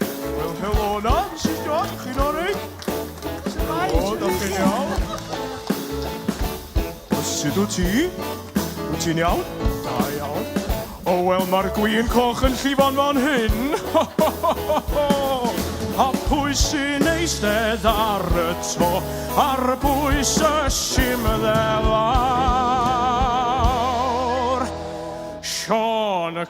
Wel, helo yna, Mrs John, chi'n orig? Shwmae, O, da chi'n iawn? Sut wyt ti? Wyt ti'n iawn? Da iawn. O, wel, mae'r gwin coch yn llifo'n fan hyn. Ho, ho, ho, ho, ho. A pwy sy'n eistedd ar y to, ar bwys y simddelawr? Sean y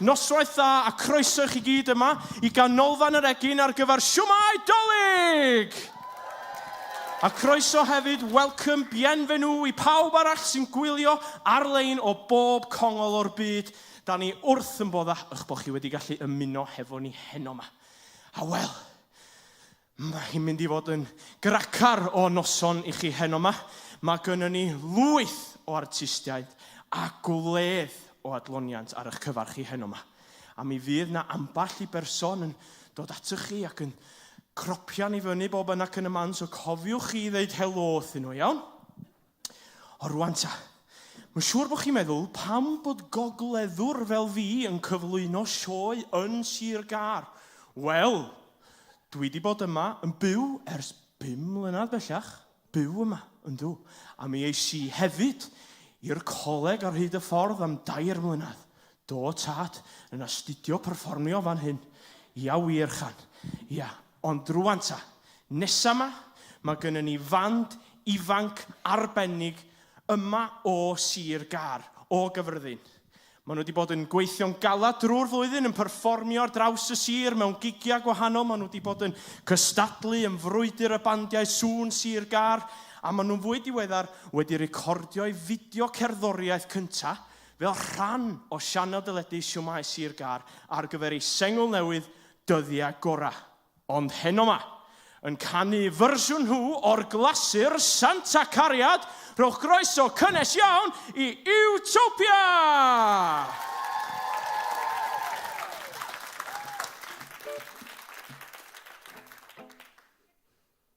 Noswaith dda a croeso i chi gyd yma i Ganolfan yr Egin ar gyfer Siwmai Dolig! A croeso hefyd, welcome, bienvenue, i pawb arall sy'n gwylio ar-lein o bob congol o'r byd. Da ni wrth yn boddach ych bod chi wedi gallu ymuno hefo ni heno 'ma. A wel, Mae hi'n mynd i fod yn gracar o noson i chi heno 'ma. Mae gynnon ni lwyth o artistiaid a gwledd o adloniant ar 'ych cyfar chi heno 'ma. A mi fydd 'na ambell i berson yn dod atoch chi ac yn cropian i fyny bob yna ac yn y man, so cofiwch chi i ddeud helo wrthyn nhw, iawn? O rwan ta, mae'n siŵr bod chi'n meddwl pam bod gogleddwr fel fi yn cyflwyno sioe yn Sir Gar. Wel, dwi di bod yma yn byw ers bum mlynedd bellach, byw yma, yndw, a mi eis i hefyd i'r coleg ar hyd y ffordd am dair mlynedd. Do, tad, yn astudio perfformio fan hyn. Ia wir, Chan. Ia, Ond rŵan ta, nesa 'ma, mae gynnon ni fand ifanc arbennig yma o Sir Gâr, o Gyffredin. Maen nhw wedi bod yn gweithio'n galed drwy'r flwyddyn, yn perfformio ar draws y sir mewn gigiau gwahanol, maen nhw wedi bod yn cystadlu yn frwydr y bandiau sŵn Sir Gâr, a maen nhw'n fwy diweddar wedi recordio'u fideo cerddoriaeth cynta' fel rhan o sianel deledu Shwmae Sir Gâr ar gyfer eu sengl newydd Dyddiau gorau. Ond heno 'ma. Yn canu fersiwn nhw o'r glasur Santa Cariad, rhowch groeso cynnes iawn i Utopia!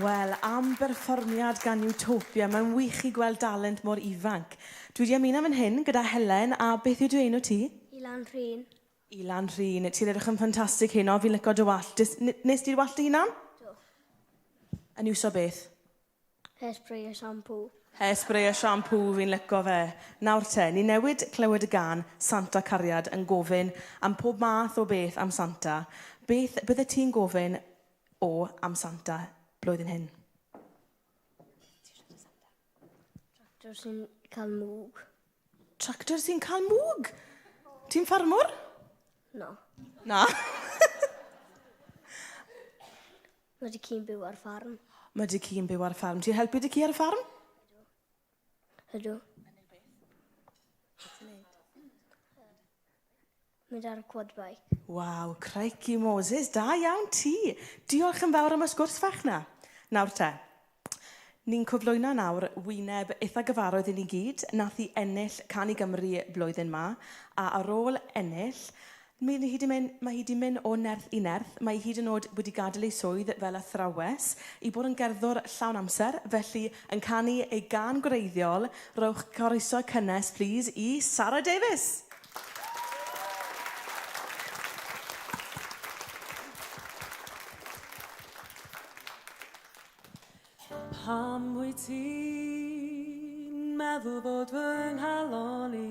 Wel, am berfformiad gan Utopia. Mae'n wych i gweld dalent mor ifanc. Dwi 'di ymuno fan hyn gyda Helen, a beth yw dy enw ti? Ilan Rhun. Ilan Rhun, ti'n edrych yn ffantastig heno, fi'n licio dy wallt. Des- n- nes di'r wallt dy hunan? Do. Yn iwso beth? Hairspray a shampoo. Hairspray a shampoo, fi'n licio fe. Nawr te, ni newid clywed y gân Santa Cariad yn gofyn am pob math o beth am Santa. Beth byddet ti'n gofyn o am Santa blwyddyn hyn? Tractor sy'n cael mwg. Tractor sy'n cael mwg? Ti'n ffarmwr? No. Na? Mae dy ci'n byw ar ffarm. Mae dy ci'n byw ar ffarm. Ti'n helpu dy ci ar y ffarm? Ydw. Yn ei beth? Beth ti'n neud? Mynd ar y quad bike. Waw, craici Moses, da iawn ti! Diolch yn fawr am y sgwrs fach na. Nawr te, ni'n cyflwyno nawr wyneb eitha gyfarwydd i ni gyd, nath i ennill Can i Gymru blwyddyn ma, a ar ôl ennill, Mae hi 'di mynd, mae hi 'di mynd o nerth i nerth, mae hi hyd yn oed wedi gadael ei swydd fel athrawes i bod yn gerddwr llawn amser, felly yn canu ei gân gwreiddiol, rhowch groeso cynnes plîs i Sara Davies! Pam wyt ti'n meddwl bod fy nghalon i?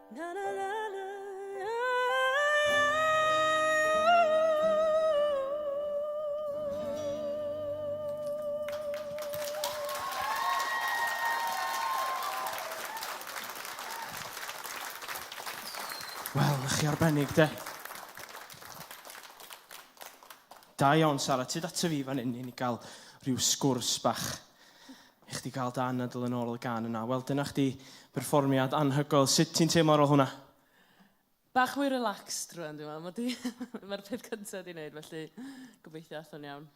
Na, na, na, na. Wel, chi arbennig, de. Da iawn, Sara. Tyd ato fi fan hyn i ni gael rhyw sgwrs bach. I chdi gael dy anadl yn ôl y gan yna. Wel, dyna chdi berfformiad anhygoel. Sut ti'n teimlo ar ôl hwnna? Bach mwy relaxed rwan, dwi'n meddwl. Mae di... Mae'r peth cyntaf di wneud, felly gobeithio athon iawn.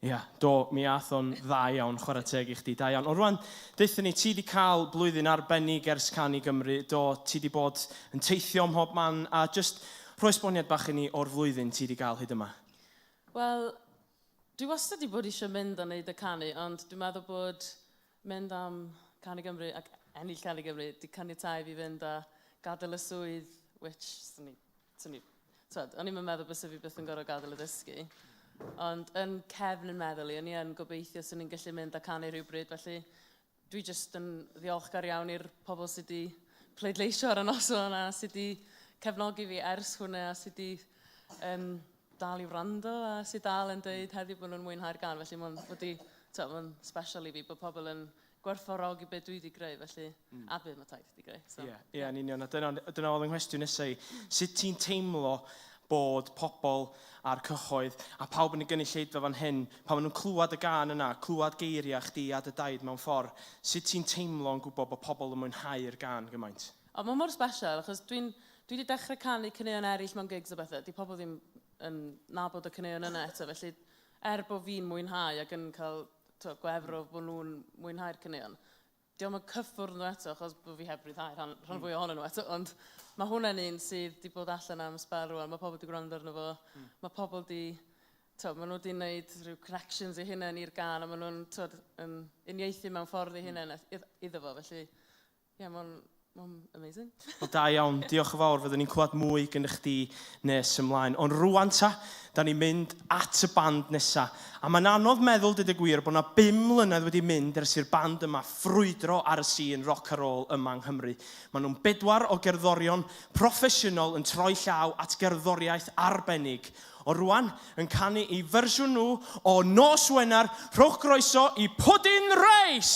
Ia, yeah, do, mi ath o'n dda iawn, chwarae teg i chdi, da iawn. Ond rwan, deutha ni, ti wedi cael blwyddyn arbennig ers can i Gymru, do, ti wedi bod yn teithio ym mhob man, a just rhoi sboniad bach i ni o'r flwyddyn ti wedi cael hyd yma. Wel, Dwi wastad 'di bod eisiau mynd a wneud y canu, ond dwi'n meddwl bod mynd am Cân Gymru ac ennill Cân Gymru 'di caniatáu i fi fynd a gadael y swydd, which, swn i, swn i, twed, o'n i'm yn meddwl bysa fi byth yn gorfod gadael y ddysgu. Ond yn cefn yn meddwl i, o'n i yn gobeithio swn i'n gallu mynd a canu rhywbryd, felly Dwi jyst yn ddiolchgar iawn i'r pobl sydd wedi pleidleisio ar y noson a sydd wedi cefnogi fi ers hwnna a sydd wedi um, dal i wrando a sydd dal yn dweud heddiw bod nhw'n mwynhau'r gan. Felly mae'n wedi, mae'n special i fi bod pobl yn gwerthfawrogi beth dwi wedi greu, felly mm. a bydd mae taith. Digreu, so. Ie, ie, yn union. A dyna, dyna oedd yng nghwestiwn nesau i. Sut ti'n teimlo bod pobl a'r cyhoedd a pawb yn y gynulleidfa fan hyn, pan maen nhw'n clywed y gan yna, clywed geiriau chdi a dy daid mewn ffordd, sut ti'n teimlo yn gwybod bod pobl yn mwynhau'r gan gymaint? O, mae mor special, achos dwi'n, dwi wedi dechrau canu caneuon eraill mewn gigs a bethau, di pobl ddim yn nabod y caneuon yna eto, felly er bod fi'n mwynhau ac yn cael to, gwefr o bod nhw'n mwynhau'r caneuon, Dio'm yn cyffwrdd nhw eto achos bo' fi heb ryddhau rhan, rhan fwya ohonyn nhw eto, ond ma' hwnna'n un sydd 'di bod allan am sbel rwan, ma' pobl 'di gwrando arno fo, ma' pobl 'di, t'wod, ma' nhw 'di neud rhyw connections eu hunain i'r gân a ma' nhw'n, t'wod, yn uniaethu mewn ffordd eu hunain iddo fo, felly, ie, ma' o'n Mae'n amazing. Wel da iawn, diolch yn fawr, fyddwn ni'n clywed mwy gyda chdi nes ymlaen. Ond rwan ta, da ni'n mynd at y band nesa. A mae'n anodd meddwl, dyd y gwir, bod yna bum mlynedd wedi mynd ers i'r band yma ffrwydro ar y sîn roc a rôl yma yng Nghymru. Maen nhw'n bedwar o gerddorion proffesiynol yn troi llaw at gerddoriaeth arbennig O rwan yn canu i fersiwn nhw o Nos Wener, rhowch groeso i Pwdin Reis!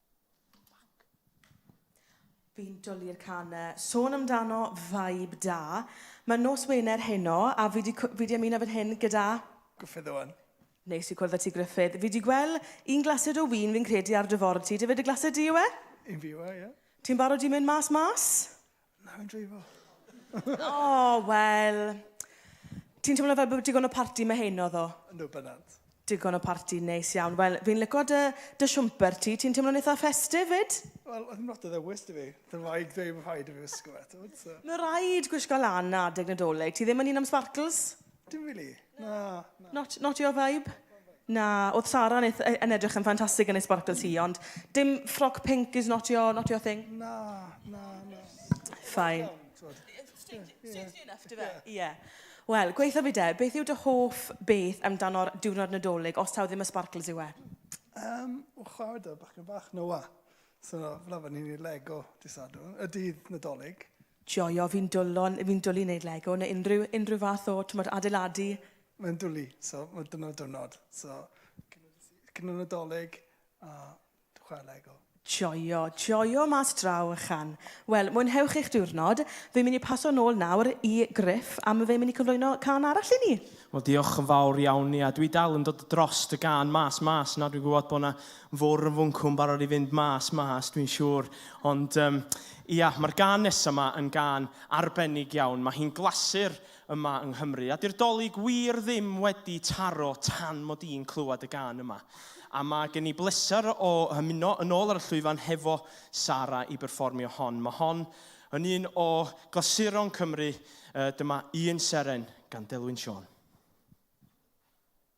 Fi'n dwlu i'r can 'na. Sôn amdano vibe da. Mae nos Wener heno a fi 'di cw- fi 'di ymuno fan hyn gyda... Gruffydd Owen. Neis i cwrdd â ti Gruffydd. Fi 'di gwel' un glasid o win fi'n credu ar dy ford ti. Dyfe dy glasid di yw e? Un fi yw e, ie. Ti'n barod i mynd mas mas? Na, fi'n dreifo. o, oh, wel... Ti'n teimlo fel bod digon o parti mae hyn oedd o? Ynddo, bynant. Digon o parti, neis iawn. Wel, fi'n lyco dy, dy siwmper ti. Ti'n teimlo'n eitha festif, fyd? Wel, oedd yn lot o ddewis dy fi. Dyna fai dweud bod rhaid i fi wisgo eto. Mae rhaid gwisgo lan adeg nadolig. Ti ddim yn un am sparkles? Dim rili, na. Not, not your vibe? Na, oedd Sara yn, eith- yn edrych yn ffantastig yn ei sbarcl ti, ond dim ffroc pinc is not your, not your thing? Na, na, na. Fine. Strangely enough, dy fe? Ie. Wel, gweitha fi de, beth yw dy hoff beth amdano'r diwrnod Nadolig, os taw ddim y sbarcls yw e? Um, o, chwarae da, bachgen bach, Noah. So, fel arfer, ni'n neud Lego dydd Sadwrn, yy dydd Nadolig. Joio, fi'n dwlo, fi'n dwlu neud Lego neu unrhyw, unrhyw fath o, t'mod, adeiladu. Mae'n dwlu, so, ma' dyna'r diwrnod. So, cyn y dydd, cyn y Nadolig, a dwi'n chware Lego. Joio, joio mas draw ychan. Wel, mwynhewch eich diwrnod. Fi'n mynd i paso nôl nawr i Gruff a ma' fe'n mynd i cyflwyno cân arall i ni. Wel, diolch yn fawr iawn, ia, dwi dal yn dod drost y gân 'Mas Mas', na, dwi'n gwbod bo' 'na Fore yn fwncw'n barod i fynd mas, mas dwi'n siŵr. Ond um, ia, mae'r gan nesaf yma yn gan arbennig iawn. Mae hi'n glasur yma yng Nghymru. A di'r dolyg wir ddim wedi taro tan mod i'n clywed y gan yma. A mae gen i bleser o hymuno yn ôl ar y llwyfan hefo Sara i berfformio hon. Mae hon yn un o glasuron Cymru. Uh, dyma un seren gan Delwyn Siôn.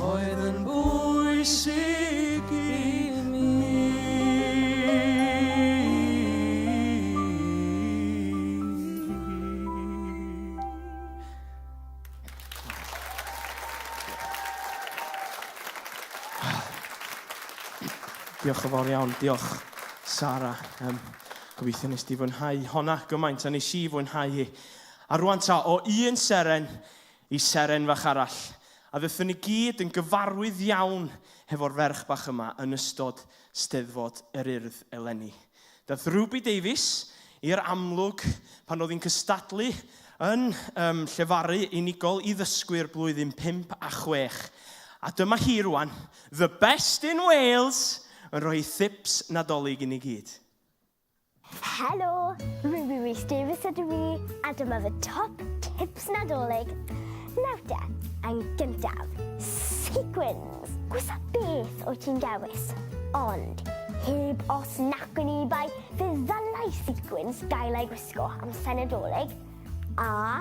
Oedd yn bwysig i Diolch yn fawr iawn. Diolch, Sara. Um, gobeithio nes di fwynhau honna gymaint a nes i fwynhau hi. A rwan ta, o un seren Y seren fach arall, a fyddwn ni gyd yn gyfarwydd iawn hefo'r ferch bach yma yn ystod Steddfod yr Urdd eleni. Daeth Ruby Davies i'r amlwg pan oedd hi'n cystadlu yn um, llefaru unigol i ddysgwyr blwyddyn 5 a 6. A dyma hi rwan, the best in Wales, yn rhoi thips Nadolig i ni gyd. Helo! Ruby Rhys Davies ydw i, a dyma fy top tips Nadolig. Nawr te, yn gyntaf, sequins! Gwisa beth wyt ti'n dewis, ond heb os nac yn ebai, fe ddylai sequins gael ei gwisgo am Senedolig, a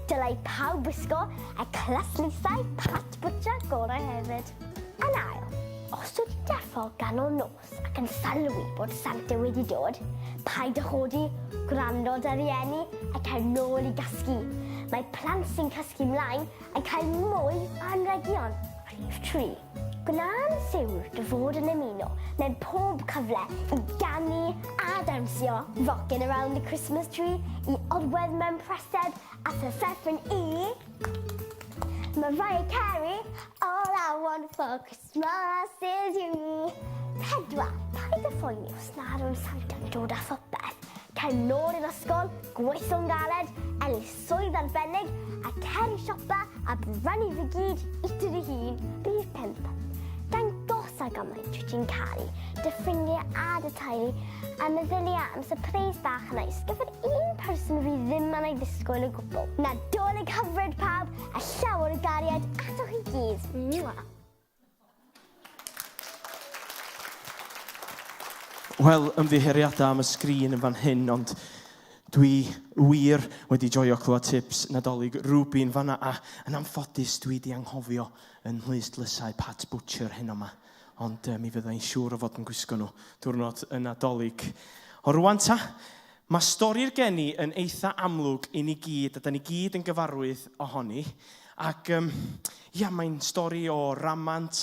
dylai pawb wisgo y claslusau Pat Butcher gorau hefyd. Yn ail, os wyt ti'n deffo ganol nos, Os ac yn sylwi bod Santa wedi dod, paid â chodi, gwrando ar dy rieni a cer nôl i gasglu. Mae plant sy'n casglu mlaen yn cael mwy o anrhegion. Rhif tri, Gwna'n siwr dy fod yn ymuno mewn pob cyfle i ganu a dawnsio, rockin' around the Christmas tree, i orwedd mewn prysed a physefin i Mariah Carey, all I want for Christmas. Mas i'r U! Pedwar, paid â phoeni os nad yw'r Sant yn dod â phopeth. Cer nôl i'r ysgol, gweithio'n galed, ennill swydd arbennig, a cer i siopa a brynu fe gyd i ti dy hun. Rhif pump, dangosa gymaint wyt ti'n caru dy ffrindiau a dy teulu, a meddylia am sypreis bach neis gyfer un person fydd ddim yn ei ddisgwyl o gwbl. Nadolig hyfryd pawb, a llawer o gariad atoch i gyd. Mwah! Wel, ymddiheuriadau am y sgrin yn fan hyn, ond dwi wir wedi joio clywed tips Nadolig Rubin fanna, a yn amffodus dwi wedi anghofio yn nhwys dlysau Pat Butcher hyn o'ma. Ond uh, mi fydda i'n siŵr o fod yn gwisgo nhw diwrnod y Nadolig. O rwan ta, Mae stori'r geni yn eitha amlwg i ni gyd a 'da ni gyd yn gyfarwydd ohoni ac yym ia mae'n stori o ramant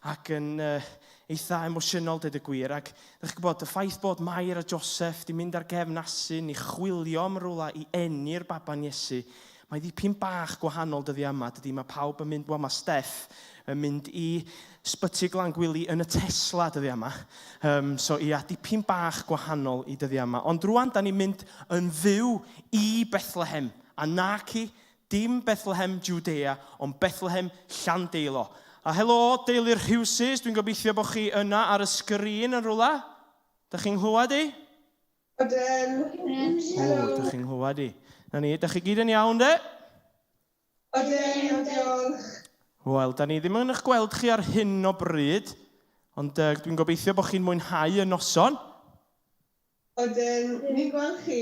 ac yn uh, eitha emosiynol dweud y gwir ac ydych chi'n gwybod y ffaith bod Mair a Joseph di mynd ar gefn asyn i chwilio am rywle i eni'r baban Iesu Mae ddipyn bach gwahanol dyddia yma, dydy? Mae pawb yn mynd, wel mae Steff yn mynd i Sbyty Glan Gwili yn y Tesla dyddia yma. Um, so ia, dipyn bach gwahanol i dyddia yma. Ond rwan, da ni'n mynd yn fyw i Bethlehem, a nac i, dim Bethlehem Judea, ond Bethlehem Llandeilo. A helo, deulu'r Rhywsys, dwi'n gobeithio bod chi yna ar y sgrin yn rhywle. Da chi'n nghlywed i? Ydyn. Helo. O, da chi'n nghlywed i. Na ni, da chi gyd yn iawn de? Ydyn, diolch. Wel, da ni ddim yn eich gweld chi ar hyn o bryd, ond uh, dwi'n gobeithio bod chi'n mwynhau y noson. Ydyn, ni'n gweld chi.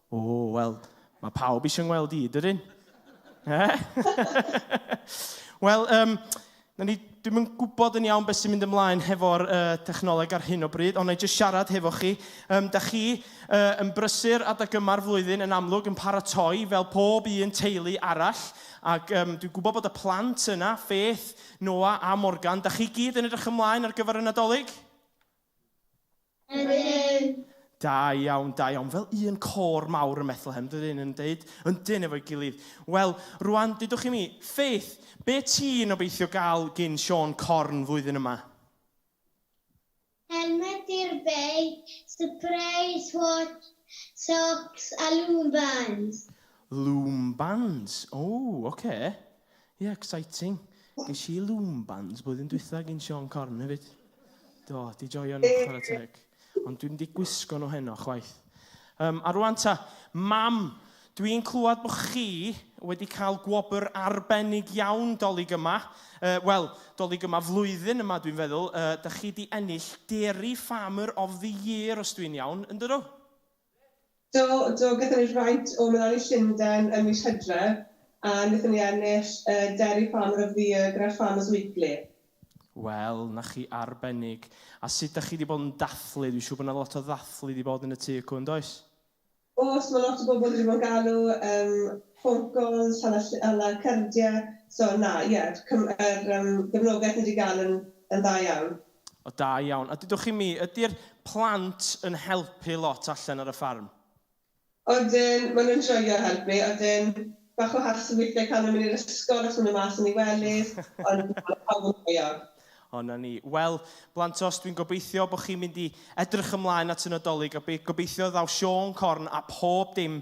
O, wel, mae pawb eisiau ngweld i, dydyn? Eh? Wel, um, Na ni ddim yn gwybod yn iawn beth sy'n mynd ymlaen hefo'r uh, technoleg ar hyn o bryd, ond na i jyst siarad hefo chi. Um, da chi uh, yn brysur adeg yma'r flwyddyn yn amlwg yn paratoi fel pob un teulu arall, ac um, dwi'n gwybod bod y plant yna, Faith, Noah a Morgan, da chi gyd yn edrych ymlaen ar gyfer y Nadolig? Ydyn. Da iawn, da iawn. Fel un côr mawr ym Methlehem, dydyn, yn deud, yndyn, efo'i gilydd. Wel, rwan, dudwch i mi, Faith, be ti'n obeithio gael gin Siôn Corn flwyddyn yma? Helmed i'r beic, surprise watch, socks a loom bands. Loom bands, o, ocê. Ie, exciting. Ges i loom bands blwyddyn dwytha gin Siôn Corn hefyd. Do, di joio nhw, chwarae teg. Ond dwi'm di gwisgo nhw heno, chwaith. Um, a rwan ta, mam, dwi'n clywed bod chi wedi cael gwobr arbennig iawn dolyg yma. Uh, Wel, dolyg yma flwyddyn yma, dwi'n feddwl. Uh, da chi di ennill Dairy Farmer of the Year, os dwi'n iawn, yn dydw? Do, do, gaethon ni rhywfaint o Meloni Llundain ym mis Hydref a wnaethon ni ennill y Dairy Farmer of the Year gyda'r Farmers Weekly. Wel, 'na chi, arbennig. A sut 'dach chi 'di bod yn dathlu? Dwi'n siŵr bod 'na lot o ddathlu 'di bod yn y tŷ acw, yn does? Oes, mae lot o bobl wedi bod yn galw, yym, ffôn cols, hala ll- hala cardiau, so na, ie, cym- yr yym gefnogaeth ni 'di gael yn yn dda iawn. O, da iawn. A dydwch chi mi, ydy'r plant yn helpu lot allan ar y ffarm? Odyn, maen nhw'n joio helpu, odyn. Bach o hassle weithiau cael nhw mynd i'r ysgol os maen nhw mas yn eu wellies, ond na, mae pawb yn joio. O, 'na ni. Wel, blantos, dwi'n gobeithio bod chi'n mynd i edrych ymlaen at y Nadolig, a gobeithio ddaw Siôn Corn a phob dim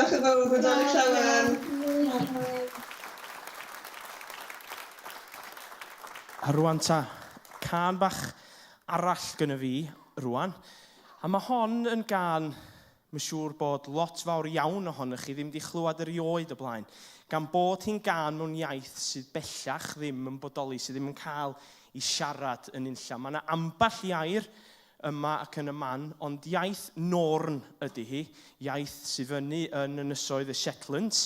Diolch yn fawr, hwyl fawr i Llawen! A rwan ta, cân bach arall gynna fi rwan. A mae hon yn gân mae'n siŵr bod lot fawr iawn ohonoch chi ddim wedi chlywed erioed o blaen, gan bod hi'n gân mewn iaith sydd bellach ddim yn bodoli, sydd ddim yn cael ei siarad yn unlla. Mae yna ambell i air yma ac yn y man, ond iaith Norn ydy hi, iaith sydd fyny yn Ynysoedd y Shetlands,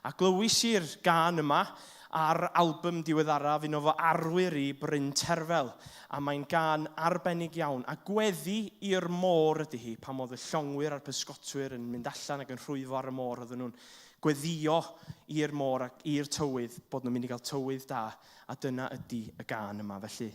a glywis i'r gân yma ar albym diweddaraf un o fy arwyr i, Bryn Terfel, a mae'n gân arbennig iawn, a gweddi i'r môr ydy hi, pan oedd y llongwyr a'r pysgotwyr yn mynd allan ac yn rhwyfo ar y môr oedden nhw'n gweddio i'r môr ac i'r tywydd bod nhw'n mynd i gael tywydd da, a dyna ydy y gân yma, felly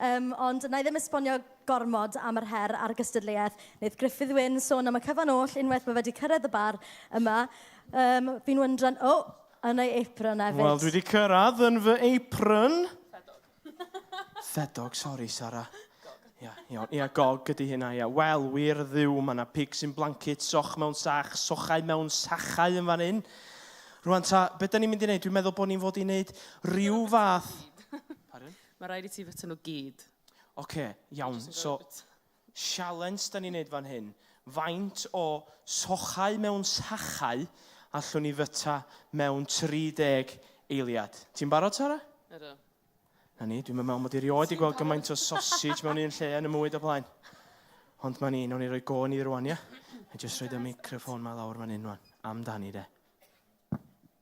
Yym, ond wna i ddim esbonio gormod am yr her a'r gystadleuaeth. Wneith Gruffydd Wyn sôn am y cyfan oll unwaith mae fe 'di cyrraedd y bar yma. Yym, fi'n wyndran... O! Yn ei apron hefyd. Wel, dwi 'di cyrraedd yn fy apron. Ffedog. Ffedog, sori, Sara. Ia, iawn. Ia, gog ydi hynna, ia. Wel, wir Dduw, mae 'na pigs in blancets, soch mewn sach, sochau mewn sachau yn fan hyn. Rwan ta, be da ni'n mynd i wneud? Dwi'n meddwl bod ni'n fod i wneud rhyw fath... Pardon? Mae rhaid i ti fita nhw gyd. Ocê, iawn, so sialens da ni'n neud fan hyn, faint o sochau mewn sachau allwn ni fyta mewn 30 eiliad? Ti'n barod, Tara? Ydw. Na ni, dwi'm yn meddwl mod i erioed 'di gweld gymaint o sausage mewn un lle yn y mwyd o blaen. Ond ma' ni, nawn ni roi go ni rwan, ia? Na'i jyst rhoid y meicroffon 'ma lawr fan hyn rwan, amdani de.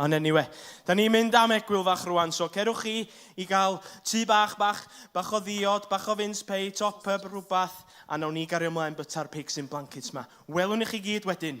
Ond anyway, da ni'n mynd am egwyl fach rwan, so cerwch chi i gael tu bach, bach, bach o ddiod, bach o fince pei, top up, rhywbeth, a nawn ni gario ymlaen byta'r pigs in blankets ma. Welwn i chi gyd wedyn.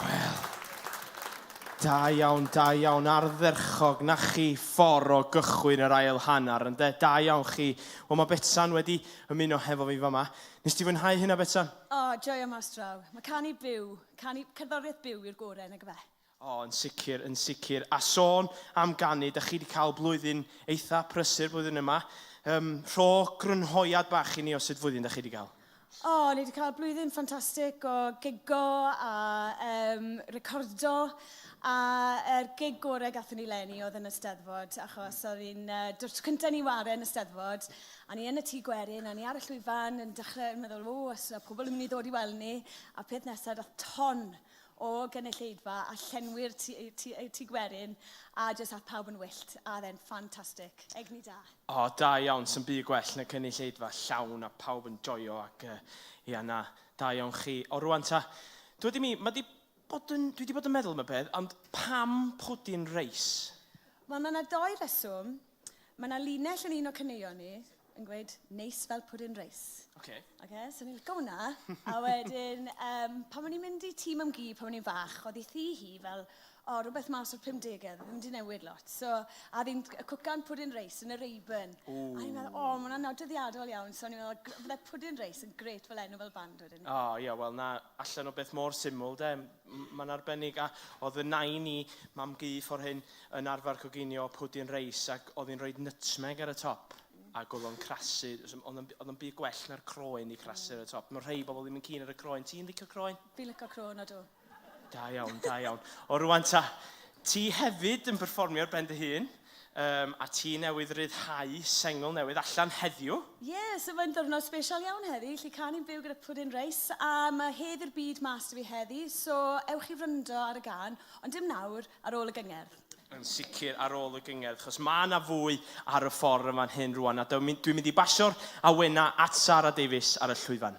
Wel, da iawn, da iawn, ardderchog, na chi ffordd o gychwyn yr ail hanner, yn de, da iawn chi. Wel, mae Betsan wedi ymuno hefo fi fama. Nes ti fwynhau hynna, Betsan? O, oh, joio mas draw. Mae canu byw, canu cerddoriaeth byw i'r gorau, nag efe? O, oh, yn sicr, yn sicr. A sôn am ganu, da chi wedi cael blwyddyn eitha prysur blwyddyn yma. Um, rho grynhoiad bach i ni o sut flwyddyn da chi wedi cael. O, ni wedi cael blwyddyn ffantastig o gigo a um, recordo a er gig gorau gatho ni lenni oedd yn y steddfod achos oedd hi'n uh, dw'r tro cyntaf ni ware yn y steddfod a ni yn y tŷ gwerin a ni ar y llwyfan yn dechrau yn meddwl o os yna pobl yn mynd i ddod i weld ni a peth nesaf dath ton o gynulleidfa a llenwi'r tŷ gwerin a jyst ath pawb yn wyllt a oedd e'n ffantastig. Egni da. O, da iawn, sy'm byd gwell na cynulleidfa llawn a pawb yn joio ac yy, ia, na, da iawn chi. O, rwan ta, dwi wedi mi, mae di bod yn, dwi wedi bod yn meddwl am y peth, ond pam pwdin reis? Wel, mae yna dou reswm. Mae yna linell yn un o caneuon ni yn gweud, neis fel pwdin reis. Oce. Oce, so ni'n licio hwnna. A wedyn, um, pan o'n i'n mynd i tîm am gi, pan o'n i'n fach, oedd ei thi hi fel, O, rhywbeth mas o'r 50au, ddim wedi newid lot. So, a fi'n cwcan pwdin reis yn y Rayburn. Ooh. A ni'n meddwl, o, oh, mae'n anodyddiadol iawn. So, ni'n meddwl, fydde pwdin reis yn gret fel enw fel band wedyn. O, oh, ie, yeah, wel, na, allan o beth mor syml, de. Mae'n arbennig. A oedd y nain i, mam gu, ffordd hyn, yn arfer coginio pwdin reis ac oedd hi'n rhoi nutmeg ar y top. Mm. Ac oedd o'n crasu. Oedd o'n byd gwell na'r croen i crasu ar y top. Mae rhai bobl ddim yn cyn ar y croen. Ti'n licio croen? Fi'n licio croen, o dw. Da iawn, da iawn. O rwan ta, ti hefyd yn performio ar ben dy hun, um, a ti newydd ryddhau sengl newydd allan heddiw. Ie, yeah, so mae'n ddiwrnod special iawn heddi, lle can i'n byw gyda Puddin Reis, a mae hedd i'r byd mas i fi heddi, so ewch i wrando ar y gan, ond dim nawr, ar ôl y gyngerdd. Yn sicr ar ôl y gyngerdd, chos mae yna fwy ar y ffordd yma'n hyn rwan, a dwi'n mynd i basio'r awena at Sara Davies ar y llwyfan.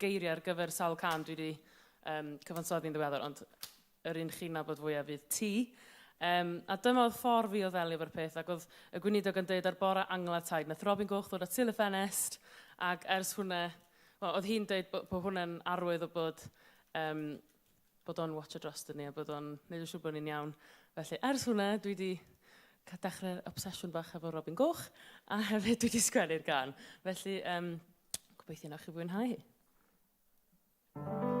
geiriau ar gyfer sawl can dwi wedi um, cyfansoddi'n ddiweddar, ond yr un chi'n nabod fwyaf fydd ti. Um, a dyma oedd ffordd fi o ddelio efo'r peth, ac oedd y gweinidog yn dweud ar bore angla taid, nath Robin Goch ddod at syl y ffenest, ac ers hwnna, well, oedd hi'n dweud bod, bod hwnna'n arwydd o bod um, bod o'n watsio droston ni a bod o'n neud yn siŵr bod ni'n iawn. Felly, ers hwnna, dwi wedi cael dechrau'r obsesiwn bach efo Robin Goch, a hefyd dwi wedi sgwennu'r gan. Felly, um, gobeithio na chi fwynhau hi. Thank you.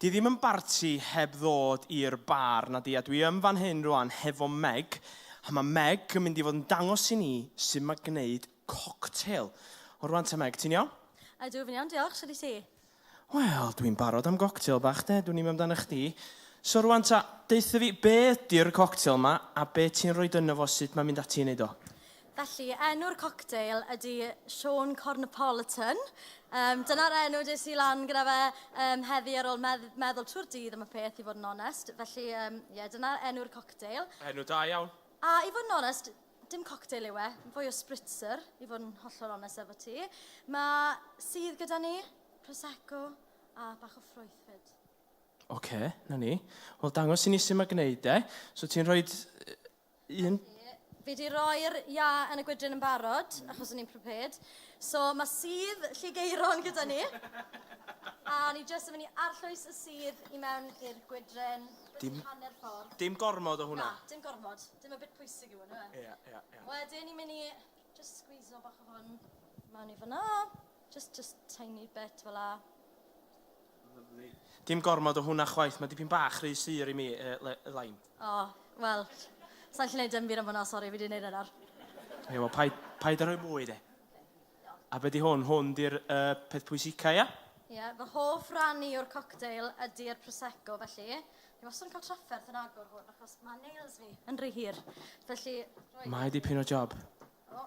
Di ddim yn barti heb ddod i'r bar, nadi, a dwi yn fan hyn rwan hefo Meg, a mae Meg yn mynd i fod yn dangos i ni sut mae gwneud cocktail. O rwan ta Meg, ti'n iawn? Ydw, fi'n iawn, diolch, sut i ti? Wel, dwi'n barod am goctail bach de, dwi'n i'm amdano chdi. So rwan ta, deutha fi, be ydy'r cocktail ma, a be ti'n rhoi dyno fo, sut mae'n mynd ati i wneud o? Felly, enw'r cocktail ydy Sean Cornapolitan. Um, Dyna'r enw des i lan gyda fe um, heddi ar ôl medd meddwl trwy'r dydd am y peth, i fod yn onest. Felly, um, yeah, dyna'r enw'r cocktail. Enw da iawn. A i fod yn onest, dim cocktail yw e, fwy o spritzer, i fod yn hollol onest efo ti. Mae sydd gyda ni, Prosecco a bach o ffrwythfyd. Oce, okay, na ni. Wel, dangos i ni sy'n mae gwneud e. So ti'n rhoi Un. Fi wedi rhoi'r ia yn y gwydryn yn barod, achos o'n i'n prepared. So mae sydd Lligeiron gyda ni. A ni jyst yn mynd i arllwys y sydd i mewn i'r gwydryn. Dim, hanner ffordd. Dim gormod o hwnna. Na, dim gormod. Dim y bit pwysig yw hwnna. Ie, yeah, ie, yeah, ie. Yeah. Wedyn ni'n mynd i just squeeze o bach o hwn mewn i fyna. Just, just tiny bit fel la. Dim gormod o hwnna chwaith, mae dipyn bach rhy sur i mi, yy, le- Elain. O, wel, sa i'n gallu neud dim byd am hwnna, sori, fi 'di neud e nawr. Ie, wel, paid, paid â rhoi mwy, de. A be 'di hwn? Hwn 'di'r, yy, peth pwysica, ia? Ie, fy hoff ran i o'r cocktail ydi'r Prosecco, felly, fi wastad yn cael trafferth yn agor hwn, achos ma' nails fi yn rhy hir, felly, rhoi... Mae dipyn o job. O!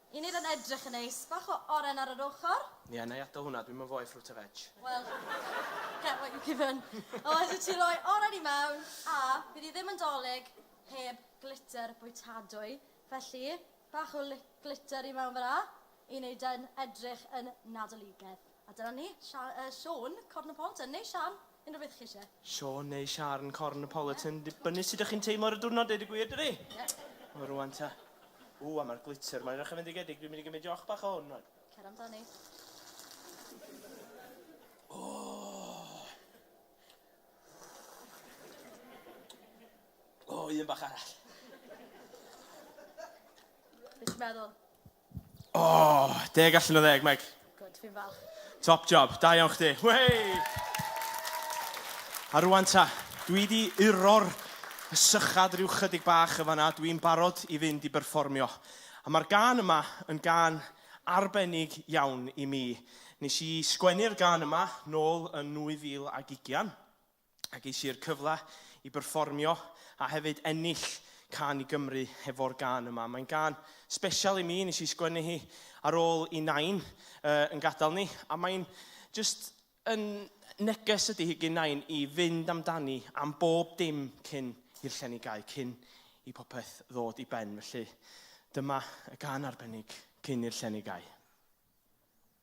Yn i'r yn edrych yn neis. Bach o oren ar yr ochr. Ie, na i atal hwnna, dwi'm yn foe fruit a veg. Wel, get what you given. O, allet ti roi oren i mewn, a bydd hi ddim yn dolig heb glitter bwytadwy. Felly, bach o li- glitter i mewn fan'na i neud e'n edrych yn nadoligedd. A dyna ni, Siôn, Cornopolitan, neu Sian, unrhyw beth chi eisiau. Siôn neu Siarn, Cornopolitan, yeah. dibynnu sut ydych chi'n teimlo ar y diwrnod, deud y gwir, dydi? Yeah. O, rwan ta. O, a mae'r glitter, mae'n rach yn fendigedig, dwi'n mynd i gymryd joch bach o hwn, rwan. Cer amdani. O! O, un bach arall. Beth ti'n meddwl? O, oh, deg allan o ddeg, Meg. Good, fi'n falch. Top job, da iawn chdi. Wey! A rwan ta, dwi di uro'r sychad rhyw chydig bach y fanna, dwi'n barod i fynd i berfformio. A mae'r gan yma yn gan arbennig iawn i mi. Nes i sgwennu'r gan yma nôl yn 2020. a ges i'r cyfle i berfformio a hefyd ennill Can i Gymru hefo'r gân yma. Mae'n gân special i mi, nes i sgwennu hi ar ôl i Nain uh, yn gadael ni, a mae'n just yn neges ydy hi gyn Nain i fynd amdani am bob dim cyn i'r llen i gau, cyn i popeth ddod i ben. Felly dyma y gân arbennig cyn i'r llen i gau.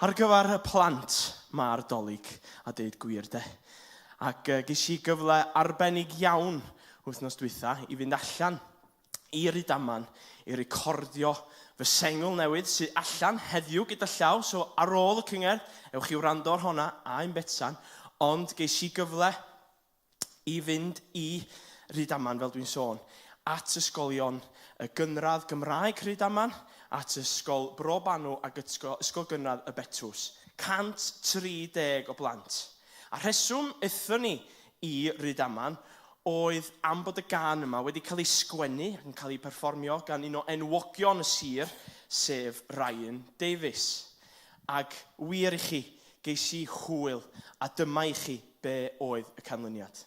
Ar gyfer y plant, mae'r Dolig, a deud gwir de. Ac ges i gyfle arbennig iawn wythnos dwytha i fynd allan i Rydaman i recordio fy sengl newydd sydd allan heddiw gyda llaw, so ar ôl y cyngerdd, ewch i wrando ar honna, a un Betsan, ond ges i gyfle i fynd i Rydaman, fel dwi'n sôn, at ysgolion y gynradd Gymraeg Rhydaman, at Ysgol Bro Banw ac Ysgol Gynradd Y Betws. 130 o blant. A rheswm aethon ni i Rydaman oedd am bod y gan yma wedi cael ei sgwennu ac yn cael ei perfformio gan un o enwogion y sir, sef Ryan Davies. Ac wir i chi, geis i hwyl, a dyma i chi Be oedd y canlyniad?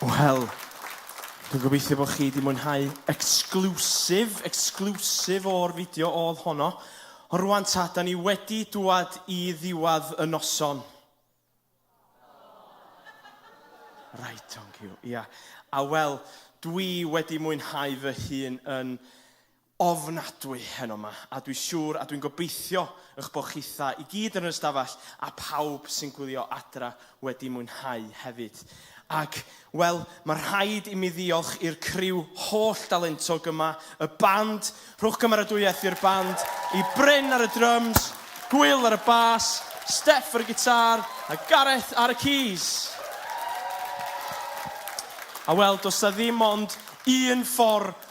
Wel, dwi'n gobeithio bod chi wedi mwynhau exclusive, exclusive o'r fideo oedd honno. Ond rwan ta, da ni wedi dwad i ddiwedd y noson. Right, thank you. Ia. A wel, dwi wedi mwynhau fy hun yn ofnadwy heno ma, a dwi siŵr a dwi'n gobeithio y'ch bo chitha i gyd yn yr ystafell a pawb sy'n gwylio adra wedi mwynhau hefyd. Ac, wel, ma rhaid i mi ddiolch i'r criw holl dalentog yma, y band, rhowch gymeradwyaeth i'r band, i Bryn ar y dryms, Hwyl ar y bas, Steff ar y gitar, a Gareth ar y keys. A wel, does 'na ddim ond un ffordd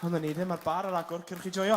Ond yn ni ddim ar bar ar agor, cyrch i joio.